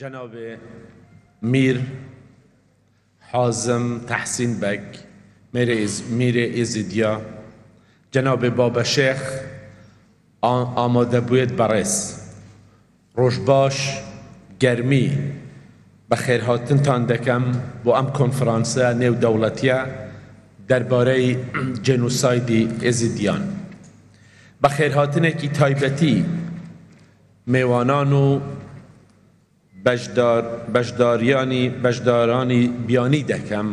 جەنابی میر حازم تەحسین بەگ میرێ ئێزیدیە جەنابی بابە شێخ ئامادەبوێت بەڕێز ڕۆژباش گەرمی بەخێرهاتنتان دەکەم بۆ ئەم کۆنفرانسە نێودەوڵەتیە دەربارەی جێنوسایدی ئێزیدیان بەخێرهاتنێکی تایبەتی میوانان و بەشداربژداریانی بەشدارانی بیانی دەکەم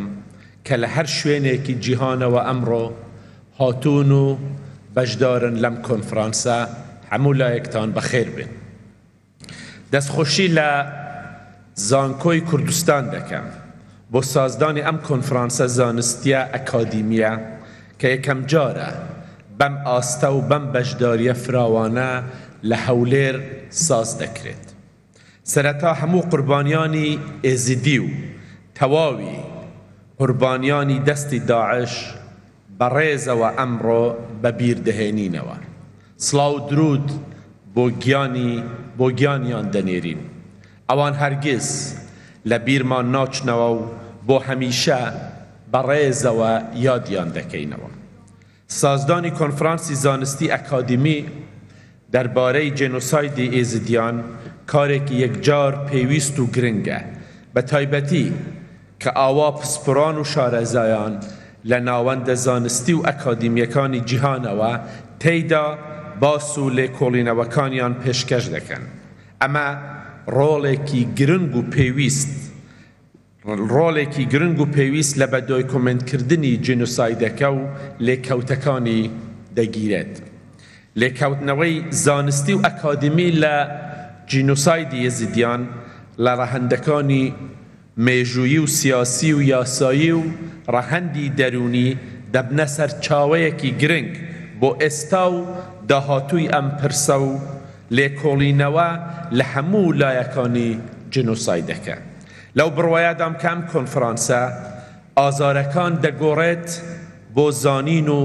کە لە هەر شوێنێکی جیهانەوە ئەمڕۆ هاتوون و بەشدارن لەم کۆنفرانسە هەموو لایەکتان بەخێر بێن دەستخۆشی لە زانکۆی کوردستان دەکەم بۆ سازدانی ئەم کۆنفرانسە زانستیە ئەکادیمیە کە یەکەمجارە بەم ئاستە و بەم بەشداریە فراوانە لە هەولێر ساز دەکرێت سەرەتا هەموو قوربانیانی ئێزیدی و تەواوی قوربانیانی دەستی داعش بەڕێزەوە ئەمڕۆ بە بیر دەهێنینەوە سڵاو و دروود بۆ گیانی بۆ گیانیان دەنێرین ئەوان هەرگیز لە بیرمان ناچنەوە و بۆ هەمیشە بە ڕێزەوە یادیان دەکەینەوە سازدانی کۆنفرانسی زانستی ئەکادیمی دەربارەی جێنۆسایدی ئێزیدیان کارێکی یەکجار پێویست و گرنگە، بە تایبەتی کە ئاوا پسپۆران و شارەزایان لە ناوەندە زانستی و ئەکادیمییەکانی جیهانەوە تێیدا باس و لێکۆڵینەوەکانیان پێشکەش دەکەن. ئەمە ڕۆڵێکی گرنگ و پێویست و. ڕۆڵێکی گرنگ و پێویست لە بەدۆیکۆمێنتکردنی جینۆسایدەکە و لێکەوتەکانی دەگیرێت. لێکەوتنەوەی زانستی و ئەکادیمی لە جینۆسایدی یەزیدیان لە ڕەهەندەکانی مێژوویی و سیاسی و یاسایی و ڕەهەندی دەروونی دەبنە سەرچاوەیەکی گرنگ بۆ ئێستا و داهاتووی ئەم پرسە و لێکۆڵینەوە لە هەموو لایەکانی جینۆسایدەکە. لەو بڕوایادام کە ئەم کۆنفرانسە ئازارەکان دەگۆڕێت بۆ زانین و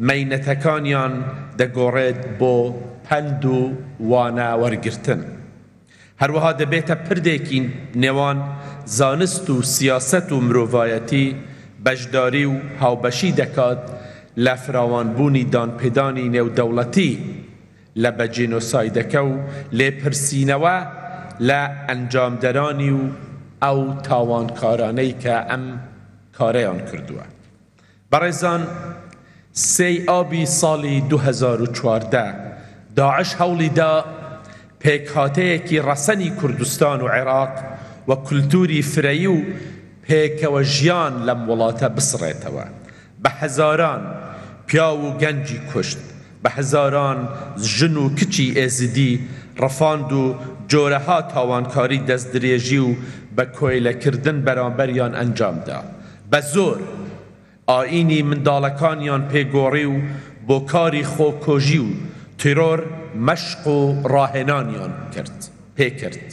مەینەتەکانیان دەگۆڕێت بۆ پەند و وانە وەرگرتن. هەروەها دەبێتە پردێکی نێوان زانست و سیاسەت و مرۆڤایەتی بەشداری و هاوبەشی دەکات لە فراوانبوونی دانپێدانی نێودەوڵەتی، لە بە جینۆسایدەکە و لێپرسینەوە لە ئەنجامدەرانی و ئەو تاوانکارانەی کە ئەم کارەیان کردووە. بەڕێزان سێی ئابی ساڵی دوو هەزار و چواردە داعش هەوڵی دا پێکهاتەیەکی ڕەسەنی کوردستان و عێراق و کولتووری فرەیی و پێکەوە ژیان لەم وڵاتە بسڕێتەوە، بە هەزاران پیاو و گەنجی کوشت، بە هەزاران ژن و کچی ئێزیدی ڕفاند و جۆرەها تاوانکاری دەستدرێژی و بە کۆیلە کردن بەرامبەریان ئەنجام دا. بە زۆر ئایینی منداڵەکانیان پێ گۆڕی و بۆ کاری خۆکۆژی و تیرۆر مەشق و ڕاهێنانیان کرد پێ کرد.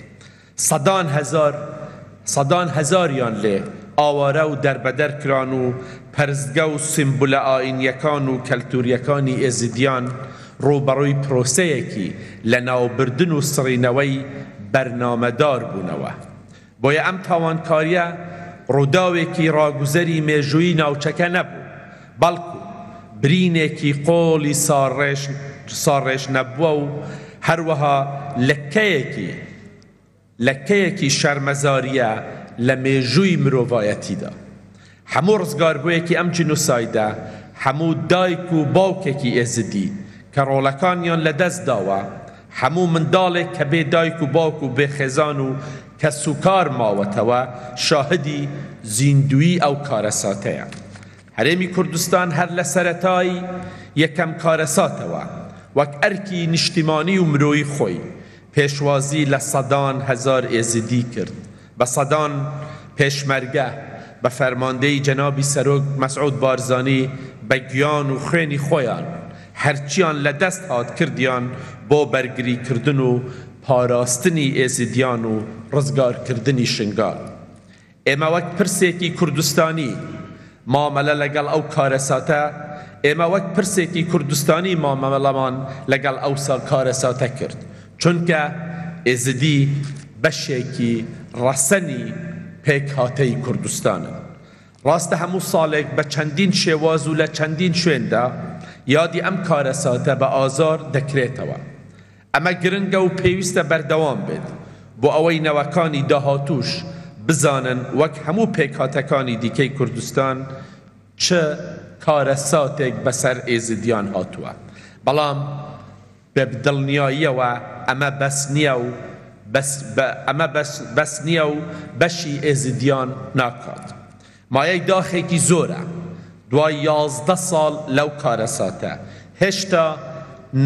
سەدان هەزار سەدان هەزاریان لێ ئاوارە و دەربەدەر کران و پەرستگە و سیمبولە ئایینییەکان و کەلتوورییەکانی ئێزیدیان ڕووبەڕووی پرۆسەیەکی لەناوبردن و سڕینەوەی بەرنامەدار بوونەوە. بۆیە ئەم تاوانکارییە ڕووداوێکی ڕاگوزەری مێژوویی ناوچەکە نەبوو، بەڵکو برینێکی قۆڵی ساڕێژ نەبووە و هەروەها لەکەیەکی لەکەیەکی شەرمەزارییە لە مێژووی مرۆڤایەتیدا. هەموو ڕزگاربووێکی ئەم جینۆسایدە هەموو دایک و باوکێکی ئێزدی کە ڕۆڵەکانیان لەدەست داوە، هەموو منداڵێک کە بێ دایک و باوک و بێ خێزان و کەسوکار ماوەتەوە شاهدی زیندوویی ئەو کارەساتەیە. هەرێمی کوردستان هەر لە سەرەتای یەکەم کارەساتەوە وەک ئەرکی نیشتیمانی و مرۆیی خۆی پێشوازی لە سەدان هەزار ئێزیدی کرد بە سەدان پێشمەرگە بە فەرماندەیی جەنابی سەرۆک مەسعود بارزانی بە گیان و خوێنی خۆیان هەرچیان لە دەست هات کردیان بۆ بەرگری کردن و پاراستنی ئێزیدیان و ڕزگار کردنی شنگال ئێمە وەک پرسێکی کوردستانی مامەلە لەگەڵ ئەو کارەساتە ئێمە وەک پرسێکی کوردستانی مامەلەمان لەگەڵ ئەو کارەساتە کرد، چونکە ئێزدی بەشێکی ڕەسەنی پێکهاتەی کوردستانن. ڕاستە هەموو ساڵێک بە چەندین شێواز و لە چەندین شوێندا یادی ئەم کارەساتە بە ئازار دەکرێتەوە، ئەمە گرنگە و پێویستە بەردەوام بێت بۆ ئەوەی نەوەکانی داهاتووش بزانن وەک هەموو پێکهاتەکانی دیکەی کوردستان چ کارەساتێک بەسەر ئێزدیان هاتووە بەڵام بە دڵنیاییەوە ئەمە بەس نییە و بەس بە ئەمە بەس بەس نییە و بەشی ئێزدیان ناکات مایەی داخێکی زۆرە دوای یازدە ساڵ لەو کارەساتە، هێشتا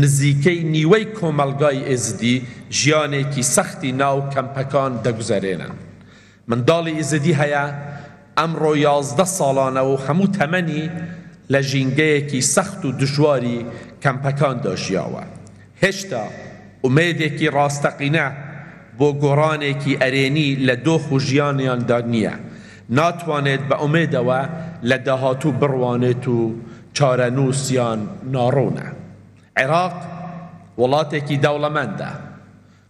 نزیکەی نیوەی کۆمەڵگای ئێزدی ژیانێکی سەختی ناو کەمپەکان دەگوزەرێنن. منداڵی ئیزدی هەیە ئەمڕۆ یازدە ساڵانە و هەموو تەمەنی لە ژینگەیەکی سەخت و دژواری کەمپەکاندا ژیاوە. هێشتا ئومێدێکی ڕاستەقینە بۆ گۆڕانێکی ئەرێنی لە دۆخ و ژیانیاندا نییە، ناتوانێت بە ئومێدەوە لە داهاتوو بڕوانێت و چارەنووسیان ناڕوونە. عێراق وڵاتێکی دەوڵەمەندە،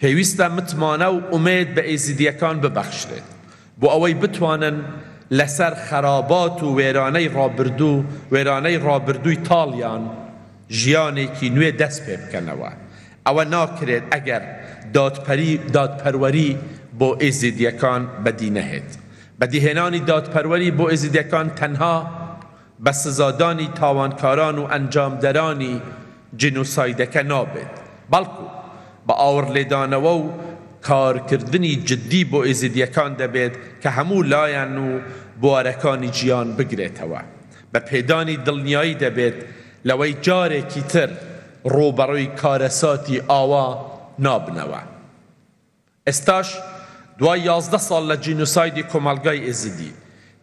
پێویستە متمانە و ئومێد بە ئێزیدییەکان ببەخشرێت بۆ ئەوەی بتوانن لەسەر خەرابات و وێرانەی ڕابردوو وێرانەی ڕابردووی تاڵیان ژیانێکی نوێ دەست پێ بکەنەوە. ئەوە ناکرێت ئەگەر دادپەری دادپەروەری بۆ ئێزیدییەکان بەدی نەهێت. بەدیهێنانی دادپەروەری بۆ ئێزیدییەکان تەنها، بە سزادانی تاوانکاران و ئەنجامدەرانی جینۆسایدەکە نابێت، بەڵکو بە ئاوڕلێدانەوە و کارکردنی جددی بۆ ئێزیدییەکان دەبێت کە هەموو لایەن و بوارەکانی ژیان بگرێتەوە. بە پێدانی دڵنیایی دەبێت لەوەی جارێکی تر ڕووبەڕووی کارەساتی ئاوا نابنەوە. ئێستاش دوای یازدە ساڵ لە جینۆسایدی کۆمەڵگای ئێزیدی،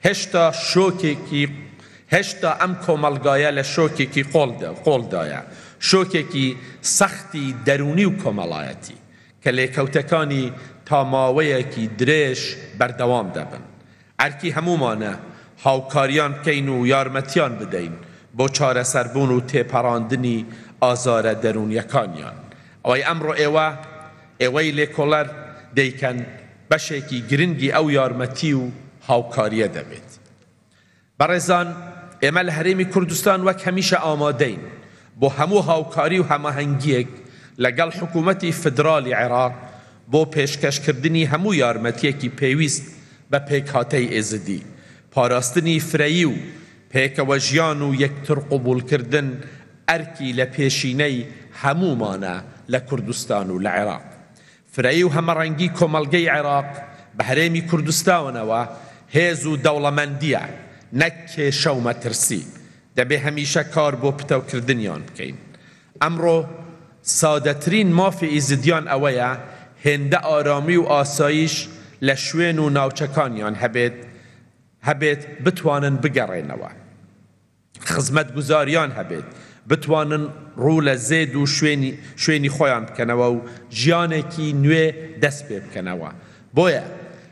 هێشتا شۆکێکی هێشتا ئەم کۆمەڵگایە لە شۆکێکی قۆڵدایە، شۆکێکی سەختی دەروونی و کۆمەڵایەتی، کە لێکەوتەکانی تا ماوەیەکی درێژ بەردەوام دەبن. ئەرکی هەموومانە هاوکاریان بکەین و یارمەتیان بدەین بۆ چارەسەربوون و تێپەڕاندنی ئازارە دەروونیەکانیان. ئەوەی ئەمڕۆ ئێوە، ئێوەی لێکۆڵەر، دەیکەن، بەشێکی گرنگی ئەو یارمەتی و هاوکاریە دەبێت. بەڕێزان، ئێمە لە هەرێمی کوردستان وەک هەمیشە ئامادەین، بۆ هەموو هاوکاری و هەماهەنگییەک لەگەڵ حکوومەتی فیدراڵی عێراق بۆ پێشکەشکردنی هەموو یارمەتییەکی پێویست بە پێکهاتەی ئێزدی، پاراستنی فرەیی و پێکەوەژیان و یەکترقبووڵکردن ئەرکی لەپێشینەی هەموومانە لە کوردستان و لە عێراق. فرەیی و هەمەڕەنگی کۆمەڵگەی عێراق بە هەرێمی کوردستاونەوە هێز و دەوڵەمەندییە، نەک کێشە و مەترسی، دەبێ هەمیشە کار بۆ پتەوکردنیان بکەین. ئەمڕۆ سادەترین مافی ئیزدییان ئەوەیە هێندە ئارامی و ئاساییش لە شوێن و ناوچەکانیان هەبێت هەبێت بتوانن بگەڕێنەوە. خزمەتگوزاریان هەبێت بتوانن ڕوو لە زێد و شوێنی شوێنی خۆیان بکەنەوە و ژیانێکی نوێ دەست پێ بکەنەوە. بۆیە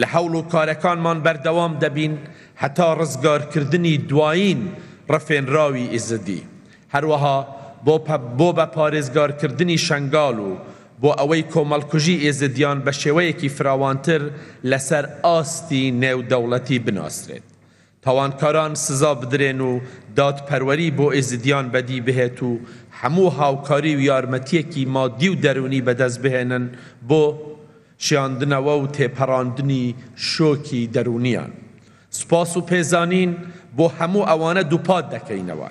لە هەوڵ و کارەکانمان بەردەوام دەبین هەتا ڕزگارکردنی دوایین ڕفێنراوی ئیزدی، هەروەها بۆ بۆ بە پارێزگارکردنی شەنگال و بۆ ئەوەی کۆمەڵکوژی ئێزدیان بە شێوەیەکی فراوانتر لەسەر ئاستی نێودەوڵەتی بناسرێت تاوانکاران سزا بدرێن و دادپەروەری بۆ ئێزیدیان بەدی بهێت و هەموو هاوکاری و یارمەتییەکی مادی و دەروونی بەدەست بهێنن بۆ شێاندنەوە و تێپەراندنی شۆکی دەروونیان. سوپاس و پێزانین بۆ هەموو ئەوانە دووپات دەکەینەوە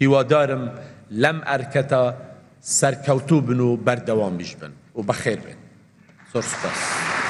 هیوادارم لەم ئەرکەتە سەرکەوتوو بن و بەردەوامیش بن و بەخێر بێن. زۆر سوپاس.